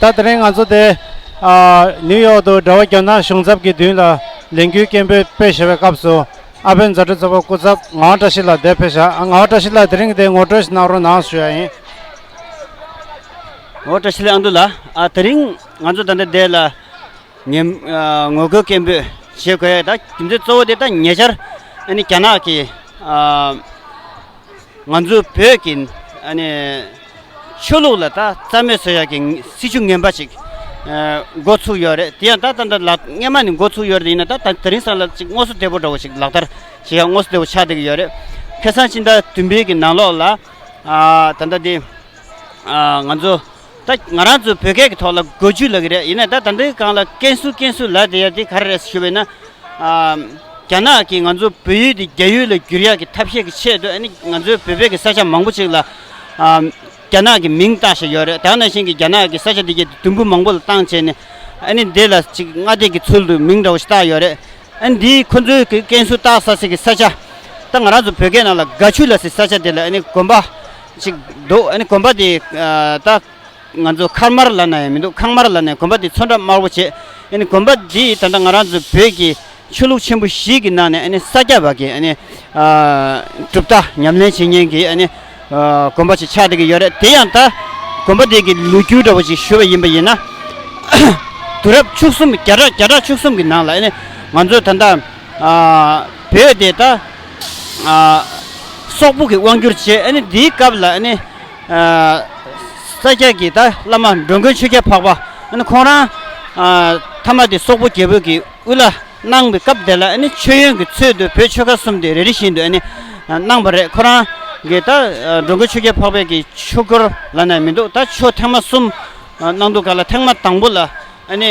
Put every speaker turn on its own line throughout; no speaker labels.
ད་དེ་རིང་ང་ཚོ་དེ་ནིའུ་ཡོག་ཏུ་འབྲེལ་བ་རྒྱ་ནག་གཞུང་ཚབ་ཀྱི་མདུན་ལ་ལས་འགུལ་སྐད་འབོད་སྤེལ་ཞེས་པའི་སྐབས་སུ་ཨ་ཕའི་མཛའ་གྲོགས་གཙོ་བོ་སྐུ་ཚབ་ངག་དབང་བཀྲ་ཤིས་ལགས་འདས་ཕེབས་བཞག་ཨ་ངག་དབང་བཀྲ་ཤིས་ལགས་དེ་རིང་དེ་ངོ་སྤྲོད་ཞིག་གནང་རོགས་གནང་ཞུ་ཡ་ཡིན།
ངོ་བཀྲ་ཤིས་ལགས་ཨ་མདོ་ལགས་ཨ་དེ་རིང་ང་ཚོ་ད་ལྟ་འདས་ལ་ཉེ་ངོ་རྒོལ་སྐད་འབོད་བྱེད་དགོས་ཡས་ད་རྒྱུ་མཚན་གཙོ་བོ་དེ་ད་ཉེ་ཆར་ཨ་ནི་རྒྱ་ནག་གིས་ང་ཚོ་བོད་ཀྱི་ཨ་ནི་ཆོས་ལུགས་ལ་ད་རྩ་མེད་བཟོ་ཡག་གི་སྲིད་བྱུས་ངན་པ་ཞིག་འགོ་ཚུགས་ཡོད་རེད་དེ་ཡང་ད་ད་ལ་རྔན་མ་ནི་འགོ་ཚུགས་ཡོད་རེད་ཡིན་ན་ད་ད་རིང་སང་ལ་ཅིག་ངོ་སོ་བདེ་པོ་འདྲ་བོ་ཞིག་ལག་བསྟར་བྱེད་ཡག་ངོ་སོ་བདེ་བོ་ཆགས་བསྡད་ཀྱི་ཡོད་རེད། ཁེ་སང་ཕྱི་ཟླ་བདུན་པའི་གི་ནང་ལོགས་ལ་ད་ལྟ་འདི་ང་ཚོ་ད་ང་རང་ཚོ་བོད་སྐད་གི་ཐོག་ལ་འགོ་འཇུས་ལ་གི་རེད་ཡིན་ན་ད་ད་འདི་གང་ལ་ཀན་སུའུ་ཀན་སུའུ་ལ་དེ་ཡ་དེ་ག་རེ་རེད་ཞུས་པ་ཡིན་ན། རྒྱ་ནག་གིས་ང་ཚོ་བོད་ཡུལ་འདི་རྒྱ་ཡུལ་ལ་བསྒྱུར་ཡག་གི་ཐབས་ཤེས་ཀྱི་ཆེད་དུ་ཨ་ནི་ང་ཚོའི་བོད་པའི་གི་ས་ཆ་མང་པོ་ཅིག་ལ་རྒྱ་ནག་གི་མིང་བཏགས་བཞིན་ཡོད་རེད་ད་ནང་བཞིན་གྱི་རྒྱ་ནག་གི་ས་ཆ་འདི་གའི་དུམ་བུ་མང་པོ་ལ་བཏང་བྱས་ནས་ཨ་ནི་འདི་ལ་ཅིག་སྔ་ལྟས་ཀྱི་ཚུལ་དུ་མིང་འདྲ་བོ་ཞིག་བཏགས་ཡོད་རེད་ཨ་ནི་འདི་ཁོ་ཚོའི་གི་ཀན་སུའུ་བཏགས་ས་ཟིག་གི་ས་ཆ་ད་ང་རང་ཚོ་བོད་སྐད་ནང་ལ་དགའ་ཆུ་ལ་ཟིག་ས་ཆ་དེ་ལ་ཨ་ནི་དགོན་པ་ཅིག་འདུག་ཨ་ནི་དགོན་པ་དེ་ད་ང་ཚོ་མཁར་དམར་ལ་ན་ཡང་མི་འདུག་ཁང་དམར་ལ་ནས་གོམ་པ་འདི་མཚོ་འདྲ་དམར་བོ་བྱེད། གོམ་པ་འདི་ད་ལྟ་ང་རང་ཚོ་བོད་ཀྱི་ཆོས་ལུགས་ཆེན་པོ་ཞིག་གི་ནང་ནས་ས་སྐྱ་བ་གིས་གྲུབ་མཐའ་ཉམས་ལེན་བྱེད་མཁན་གྱི་གོམ་པ་ཞིག་ཆགས་བསྡད་ཀྱི་ཡོད་རེད་དེ་ཡང་ད་གོམ་པ་འདི་གི་ལུས་འགྱུར་འདྲ་བོ་ཞིག་ཞུ་བ་ཡིན་པ་ཡིན་ན། དུས་རབས་བཅུ་གསུམ་བརྒྱ་ཕྲག་བརྒྱ་ཕྲག་བཅུ་གསུམ་གྱི་ནང་ལ་ང་ཚོ་ད་ལྟ་བོད་དེ་ད་སོག་པོ་གི་དབང་བསྒྱུར་བྱེད་འདིའི་སྐབས་ལ། ས་སྐྱ་ཀྱི་ད་བླ་མ་འགྲོ་མགོན་ཆོས་རྒྱལ་འཕགས་པ་ཨཱ་ནི་ཁོང་རང་མཐའ་མ་དེ་སོག་པོ་རྒྱལ་པོ་གྱི་དབུ་བླ་གནང་བའི་སྐབས་དེ་ལ་ཨཱ་ནི་མཆོད་ཡོན་གྱི་ཚུལ་དུ་བོད་ཆོལ་ཁ་གསུམ་དེ་རེ་རེ་བཞིན་དུ་ཨཱ་ནི་གནང་བ་རེད་ཁོ་རང་གི་ད་འགྲོ་མགོན་ཆོས་རྒྱལ་འཕགས་པའི་གྱི་ཆོས་སྐོར་ལ་ནས་མི་འདུག་ད་ཆོས་ཐེངས་མ་གསུམ་གནང་འདུག་ག་ལ་ཐེངས་མ་དང་པོ་ལ་ཨཱ་ནི་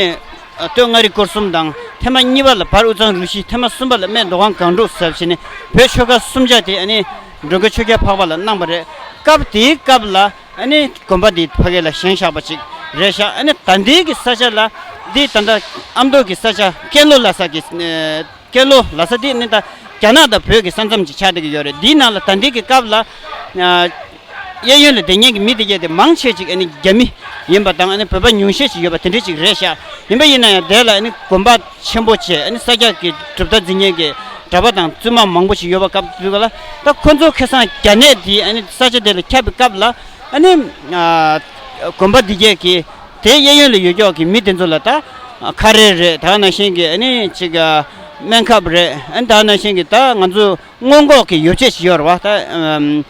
སྟོད་མངའ་རིས་སྐོར་གསུམ་དང་ཐེངས་མ་གཉིས་པ་ལ་བར་དབུས་གཙང་རུ་བཞི་ཐེངས་མ་གསུམ་པ་ལ་སྨད་མདོ་སྒང་གངས་འབྲུག་ཟབ་བཞི་ནི་བོད་ཆོལ་ཁ་གསུམ་ཆ་དེ་ཨཱ་ནི། མགྲོན་གྱི་ཆོས་རྒྱལ་འཕགས་པ་ལ་གནང་བ་རེད། སྐབས་དེའི་སྐབས་ལ་དགོན་པ་འདི་ཕ་གི་ལ་བཞེངས་བཞག་པ་ཅིག་རེད་བཞག་ད་འདི་གི་ས་ཆ་ལ་འདི་ད་ལྟ་ཨ་མདོ་གི་ས་ཆ་ཀན་ལྷོ་ལ་ས་གི་ཀན་ལྷོ་ལ་ས་འདི་ནི་ད་རྒྱ་ནག་དང་བོད་ཀྱི་ས་མཚམས་ཀྱི་ཆ་དེ་གི་ཡོད་རེད་འདིའི་ནང་ལ་ད་འདི་གི་སྐབས་ལ་གཡས་གཡོན་ལ་བདེ་གཉེན་གྱི་མི་དེ་གྱ་དེ་མང་ཆེ་ཅིག་རྒྱ་མི་ཡིན་པ་དང་བོད་པ་ཉུང་ཤས་ཅིག་ཡོད་པ་དེ་འདྲས་ཅིག་རེད་བཞག་ཡིན་པ་ཡིན་ན་ཡང་དེ་ལ་དགོན་པ། ཆེན་པོ་བཅས་ཨ་ནི་ས་སྐྱ་ཀྱི་གྲུབ་མཐའ་འཛིན་མཁན་གྱི་གྲྭ་པ་དང་བཙུན་མ་མང་པོ་ཞིག་ཡོད་པ་སྐབས་དེ་དུས་ལ་ད་ཁོ་ཚོ་ཁེ་སང་རྒྱ་ནད་འདིས་ཨ་ནི་ས་ཆ་དེ་ལ་ཁྱབ་པའི་སྐབས་ལ་ཨ་ནི་དགོན་པ་འདི་གས་ཀྱིས་དེའི་གཡས་གཡོན་ལ་ཡོད་ཀྱོག་གི་མི་དེ་ཚོ་ལ་ད་ཁ་རས་རེད་ད་ན་ཤན་གྱི་ཨ་ནི་ཅིག་སྨན་ཁབ་རེད་ཨ་ནི་ད་ན་ཤན་གྱི་ད་ང་ཚོ་སྔོན་འགོག་གི་ཡོ་བྱད་ཞིག་ཡོད་ར་བ་ད་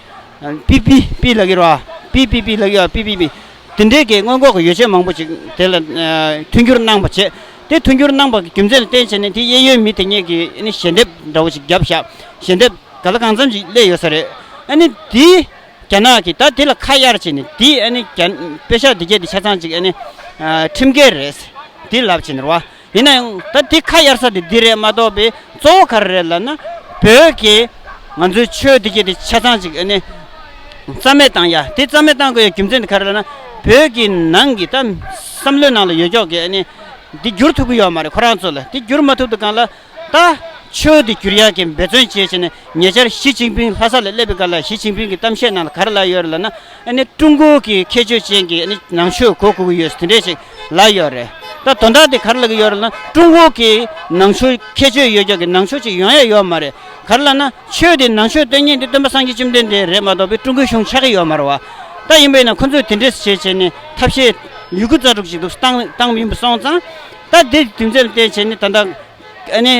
པི་པི་པི་ལ་གི་ར་བ་པི་པི་པི་ལ་གི་ར་བ་པི་པི་པི་དེ་འདྲའི་གི་སྔོན་འགོག་གི་ཡོ་བྱད་མང་པོ་ཞིག་དེ་ལ་མཐུན་འགྱུར་གནང་པ་བྱས་དེ་མཐུན་འགྱུར་གནང་བར་རྒྱུ་མཚན་ལ་བརྟེན་བྱས་ནས་དེའི་གཡས་གཡོན་མི་དེ་སྙེད་ཀྱིས་ཞལ་འདེབས་འདྲ་བོ་ཞིག་བརྒྱབ་བཞག་ཞལ་འདེབས་ག་ལ་གང་འཚམ་ཞིག་སླེ་ཡོད་ས་རེད། དེས་རྒྱ་ནག་གིས་ད་དེ་ལ་ཁ་གཡར་བྱས་ནས་དེས་དཔེ་ཤག་འདི་བརྒྱད་འདི་ཆ་ཚང་ཅིག་ཁྲིམས་འགལ་རེད་དེ་ལབ་བྱས་ནས་རོགས། ཡིན་ན་ཡང་ད་དེ་ཁ་གཡར་ས་དེ་འདི་རེད་མ་གཏོགས་པའི་གཙོ་བོ་ག་རེ་རེད་ལབ་ན་བོད་ཀྱི་ང་ཚོའི་ཆོས་འདི་བརྒྱད་འདི་ཆ་ཚང་ཅིག། རྩ་མེད་བཏང་ཡ་དེ་རྩ་མེད་བཏང་དགོས་ཡ་རྒྱུ་མཚན་དེ་ག་རེ་ལ་ན། བོད་ཀྱི་ནང་གི་ད་བསམ་བློའི་ནང་ལ་ཡོད་ཀྱོག་གི་ནི། འདི་བསྒྱུར་ཐུབ་ཀྱི་ཡོག་མ་རེད་ཁོ་རང་ཚོ་ལ་འདི་བསྒྱུར་མ་ཐུབ་ཏུ་གང་ལ། ད་ཆོས་འདི་བསྒྱུར་ཡག་གི་འབད་བརྩོན་བྱེད་བྱེད་ནས་ཉེ་ཆར་ཞི་ཅིང་ཕིང་ལྷ་ས་ལ་སླེབས་པའི་སྐབས་ལ་ཞི་ཅིང་ཕིང་གི་གཏམ་བཤད་ནང་ལ་ག་རེ་ལ་ཡོད་རེད་ལ་ན། ནི་ཀྲུང་གོ་གི་ཁྱད་ཆོས་ཅན་གྱི་ནི་ནང་ཆོས་གོ་དགོས་ཀྱི་ཡོད་དེ་འདྲས་ཞིག་ལ་ཡོད་རེད། ད་དོན་དག་དེ་ག་རེ་ལ་གི་ཡོད་རེད་ལ་ན་ཀྲུང་གོ་གི་ནང་ཆོས་ཁྱད་ཆོས་ཡོད་ཀྱོག་གི་ནང་ཆོས་ཅིག་ཡོང་ཡ་ཡོག་མ་རེད་ག་རེ་ལ་ན། ཆོས་དེ་ནང་ཆོས་སྟོན་མཁན་དེ་སྟོན་པ་སངས་རྒྱས་བཅོམ་ལྡན་འདས་རེད་མ་གཏོགས་པའི་ཀྲུང་གོའི་གཞུང་ཆགས་ཀྱི་ཡོད་མ་རེད་བ། ད་ཡིན་པས་ན་ཁོ་ཚོས་དེ་འདྲས་བྱས་བྱས་ནས་ཐབས་ཤེས། མྱུ་གུ་རྩ་དྲུག་ཅིག་འདུག་སྟངས་སྟངས་མིན་པ་སོང་ཙང། ད་དེ་དུས་མཚན་ལ་བལྟས་བྱས་ནས་ད་ལྟ། ཨ་ནེ།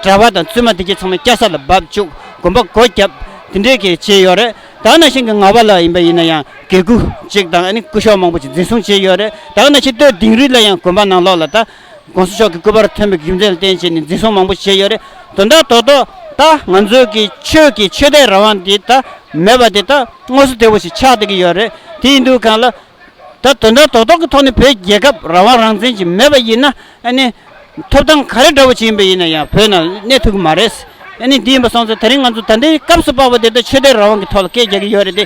གྲྭ་བ་དང་བཙུན་མ་དེ་གྱེས་ཚང་མ་སྐྱ་སར་ལ་བབས་བཅུག་དགོན་པ་སྒོ་བརྒྱབ། དེ་འདྲས་གྱིས་བྱས་ཡོད་རེད་དྭགས་ན་ཤིང་གི་ང་བ་ལ་ཡིན་པ་ཡིན་ན་ཡང་དགེ་སྐུ་ཅིག་དང་ཨ་ནེ་སྐུ་ཤོག་མང་པོ་ཅིག་འཛིན་བཟུང་བྱས་ཡོད་རེད་དྭགས་ན་ཆེ་བསྟོད་དིང་རི་ལ་ཡང་དགོན་པ་ནང་ལོགས་ལ་ད། དགོངས་སུ་མཆོག་གི་སྐུ་པར་ཐོན་པའི་རྒྱུ་མཚན་ལ་བརྟེན་བྱས་ནས་འཛིན་བཟུང་མང་པོ་བྱས་ཡོད་རེད། དོན་དག་དོག་དོག་ད་ང་ཚོའི་གི་ཆོས་ཀྱི་ཆོས་དད་རང་དབང་དེ་ད་མེད་པ་དེ་ད་དངོས་སུ་དེ་བོ་ཞིག་ཆགས་བསྡད་ཀྱི་ཡོད་རེད་དེ་ཡིན་དུས་གང་ལ། ད་དོན་དག་དོག་དོག་གི་ཐོག་ནས་བོད་རྒྱལ་ཁབ་རང་དབང་རང་བཙན་ཞིག་མེད་པ་ཡིན་ན་ཨ་ནི། ཐོབ་ཐང་ག་རེ་འདྲ་བོ་ཞིག་ཡིན་པ་ཡིན་ན་ཡང་བོད་ནང་གནས་ཐུབ་ཀྱི་མ་རེད། ཨ་ནི་དེ་ཡིན་པ་སོང་ཚེ་ད་རིང་ང་ཚོ་ད་ལྟའི་སྐབས་སུ་དཔའ་བོ་དེ་ད་ཆོས་དད་རང་དབང་གི་ཐོག་ལ་སྐད་རྒྱག་གི་ཡོད་རེད་དེ།